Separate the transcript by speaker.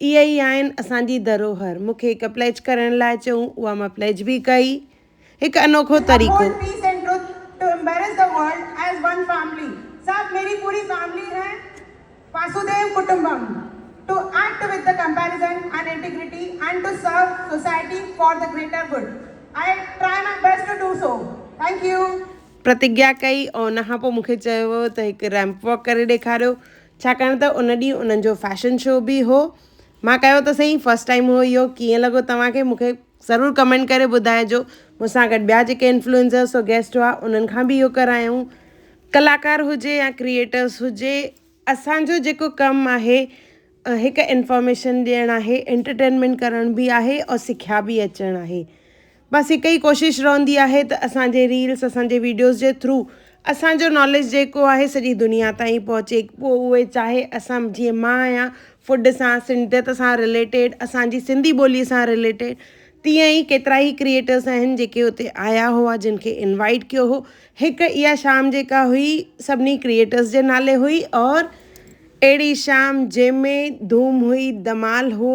Speaker 1: اهي ئي آهن اسان جي ڌروهر. مون کي هڪ پليج ڪرڻ لاء چيو، اها مان پليج به ڪئي. هڪ انوکو طريقو. پرتگيا ڪئي ۽ ان کان پوء مون کي چيو ويو ته هڪ ريمپ واڪ ڪري ڏيکاريو. ڇاڪاڻ ته ان ڏينهن انهن جو فيشن شو به هو. مان ڪيو ته سهي فرسٽ ٽائيم هو اهو ڪيئن لڳو توهان کي مون کي ضرور ڪمينٽ ڪري ٻڌائجو مون سان گڏ ٻيا جيڪي انفلوئنسرس اور گيسٽ هئا انهن کان به اهو ڪرايائون ڪلاڪار هجي يا ڪريئيٽرس هجي اسانجو جيڪو ڪم آهي هڪ انفارميشن ڏيڻ آهي انٽرٽينمينٽ ڪرڻ به آهي اور سکيا به اچڻ آهي بس هڪ ئي ڪوشش رهندي آهي ته اسان جي ريلز اسان جي ويڊيوز جي ٿرو اسان جو ناليج جيڪو آهي سڄي دنيا تائين پهچي پوء اهي چاهي اسان جيئن مان آهيان فوڊ سان سنڌيت سان رليٽيڊ اسان جي سنڌي ٻولي سان رليٽيڊ تيئن ئي ڪيترا ئي ڪريئيٽرز آهن جيڪي اتي آيا هئا جن کي انوائيٽ ڪيو هو هڪ اها شام جيڪا هئي سڀني ڪريئيٽرز جي نالي هئي اور اهڙي شام جنهن ۾ ڌوم هئي ڌمال هو